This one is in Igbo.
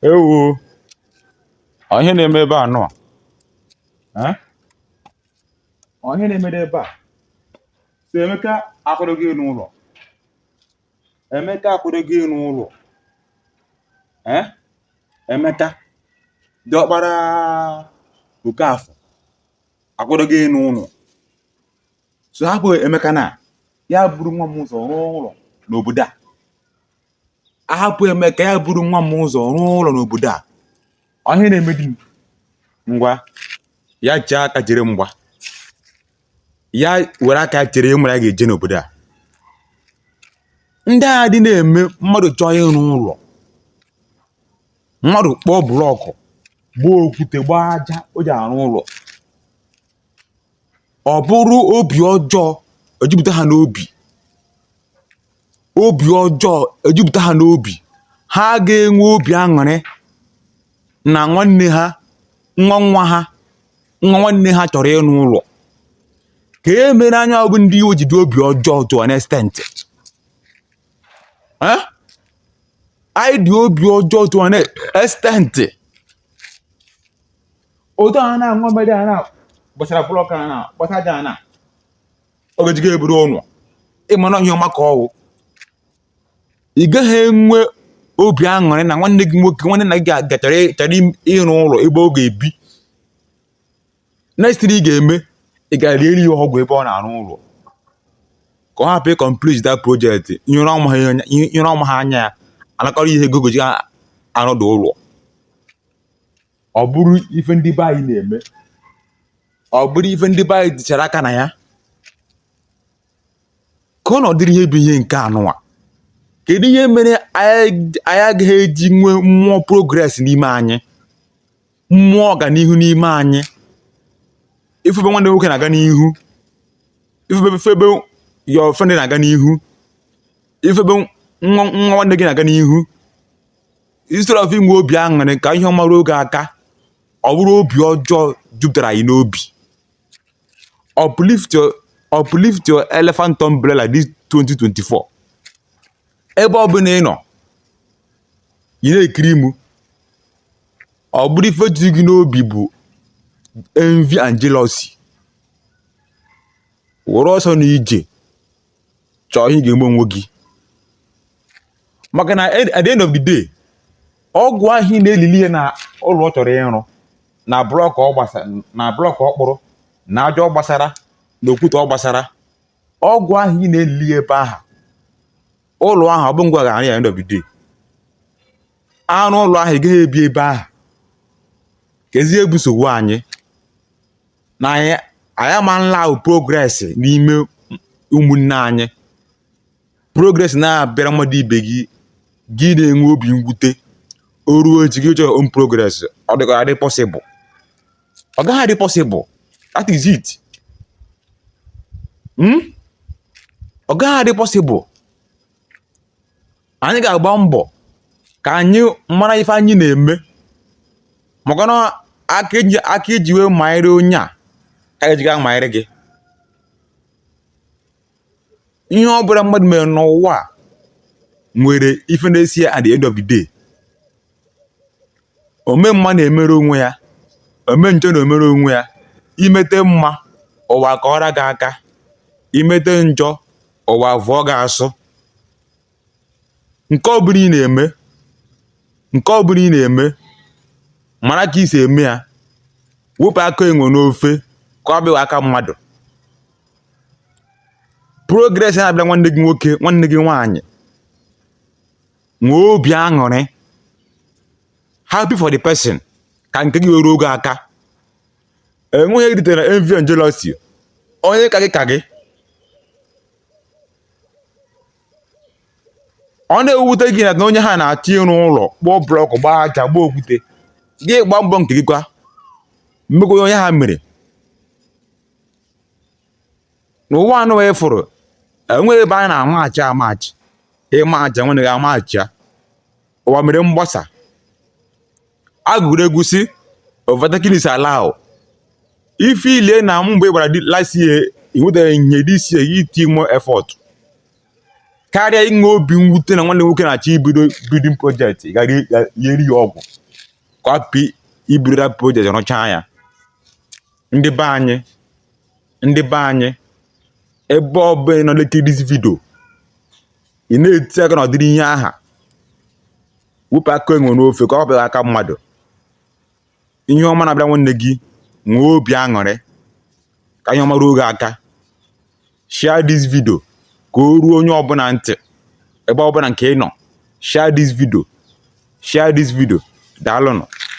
Ewo ọ ihe na-eme ebe anụwa ọ ihe na-emede ebe a so Emeka akwadoghị ịrụ ụlọ Emeka akwadoghị ịrụ ụlọ ee Emeka diọkpara Okafọ akwadoghị ịrụ ụlọ so hapụ Emeka na ya buru nwa m ụzọ rụọ ụlọ n'obodo a a hapụ Emeka ya buru nwa m ụzọ rụọ ụlọ n'obodo a ọ ihe na-eme di m ngwa ya chee aka chere mgba ya were aka ya chere ihe mara ya ga-eje n'obodo a ndị a ha dị na-eme mmadụ chọọ ịrụ ụlọ mmadụ kpọọ blọkụ gbaa okwute gbaa aja o ji arụ ụlọ ọ bụrụ obi ọjọọ ejupụta ha n'obi obi ọjọọ ejupụta ha n'obi ha ga-enwe obi aṅụrị na nwanne ha nwa nwa ha nwa nwanne ha chọrọ ịrụ ụlọ kee ihe mere anyị bụ ndị iwe ji dị obi ọjọọ to an extent Eh? anyị dị obi ọjọọ to an extent otu a na-aṅụ mmiri a na-agbasara blọk a na-agbasa aja a na ọ ga-eji gị eburu ụlọ ị mara ihe ọma ka ọ wụ ị gaghị enwe obi aṅụrị na nwanne gị nwoke nwanne nna gị chọrọ chọrọ im- ịrụ ụlọ ebe ọ ga-ebi next thing ị ga-eme ị gaa liere ya ọgwụ ebe ọ na-arụ ụlọ ka ọ hapụ ịkọmplit that project nyere ọma ha anya- nyere ọma ha anya ya anakọrọ ihe ego o ji arụ dị ụlọ ọ bụrụ ife ndị be anyị na-eme ọ bụrụ ife ndị be anyị dịchara aka na ya ka ọ na ọ dịrị ihe bụ ihe nke anụwa kedu ihe mere anyị anyị agaghị eji nwee mmụọ progress n'ime anyị mmụọ ọganihu n'ime anyị ị fụ ebe nwanne nwoke na-aga n'ihu ị fụ ebe fụ ebe your friend na-aga n'ihu ị fụ ebe nwa nwa nwanne gị na-aga n'ihu instead of inwe obi aṅụrị ka ihe ọma ruo gị aka ọ bụrụ obi ọjọọ jupụtara anyị n'obi uplift your uplift your elephant umbrella this 2024 ebe ọ bụla ị nọ ị na-ekiri mụ ọ bụrụ ife juru gị n'obi bụ envy and jealousy were ọsọ na ije chọọ ihe ị ga-eme onwe gị maka na at the end of the day ọgwụ ahụ ị na-elili ihe na ụlọ ọ chọrọ ịrụ na blọk ọ gbasara na blọk ọ kpụrụ na aja ọ gbasara na okwute ọ gbasara ọgwụ ahụ ị na-elili ebe ahụ ụlọ ahụ ọ bụ ngwa ga-arụ ya end of the day arụ ụlọ ahụ ị gaghị ebi ebe ahụ kezi ihe bụ nsogbu anyị na anyị anyị ama na-ahụ progress n'ime ụmụnne anyị progress na-abịara mmadụ ibe gị gị na-enwe obi mwute o ruo echi gị chọrọ own progress ọ dịkwa adị possible ọ gaghị adị possible that is it hmm? ọ gaghị adị possible anyị ga-agba mbọ ka anyị mara ife anyị na-eme maka na aka iji wee manyere onye a ka eji ga-amanyere gị ihe ọ bụla mmadụ mere n'ụwa a nwere ife na-eso ya at the end of the day ome mma na-emere onwe ya ome njọ na-emere onwe ya imete mma ụwa akụọra gị aka imete njọ ụwa vụọ gị asụ nke ọbụla ị na-eme nke ọbụla ị na-eme mara ka i si eme ya wepụ aka enwe n'ofe ka ọ hapụ ịbụ aka mmadụ progress na-abịara nwanne gị nwoke nwanne gị nwaanyị nwee obi aṅụrị happy for the person ka nke gị wee ruo gị aka enweghị ihe eritere envy and jealousy onye ka gị ka gị ọ na-ewute gị na onye aha na-achọ ịrụ ụlọ kpụọ blọkụ gbaa aja gbaa okwute gị gbaa mbọ nke gị kwa mee ka onye aha mere na ụwa a nụwa ị fụrụ enweghị ebe anyị na-amachi amachi ịma aja nwanne gị amachi ya ụwa mere mgbasa agụrụ egwu sị overtaking is allowed if i lee na mbọ ị gbara last year ị nwetaghị ihe this year iti more effort karịa inwe obi mwute na nwanne nwoke na-achọ ibido building project ị gara lieri ya ọgwụ ka ọ hapụ ibido that project rụchaa ya ndị be anyị ndị be anyị ebe ọ bụla ị nọ lekiri this video ị na-eti aka na ụdịrị ihe aha wepụ aka enwe n'ofe ka ọ hapụ ịbụ aka mmadụ ihe ọma na-abịara nwanne gị nwee obi aṅụrị ka ihe ọma ruo gị aka share this video ka o ruo onye ọbụla ntị ebe ọbụla nke ị nọ share this video share this video daalụnụ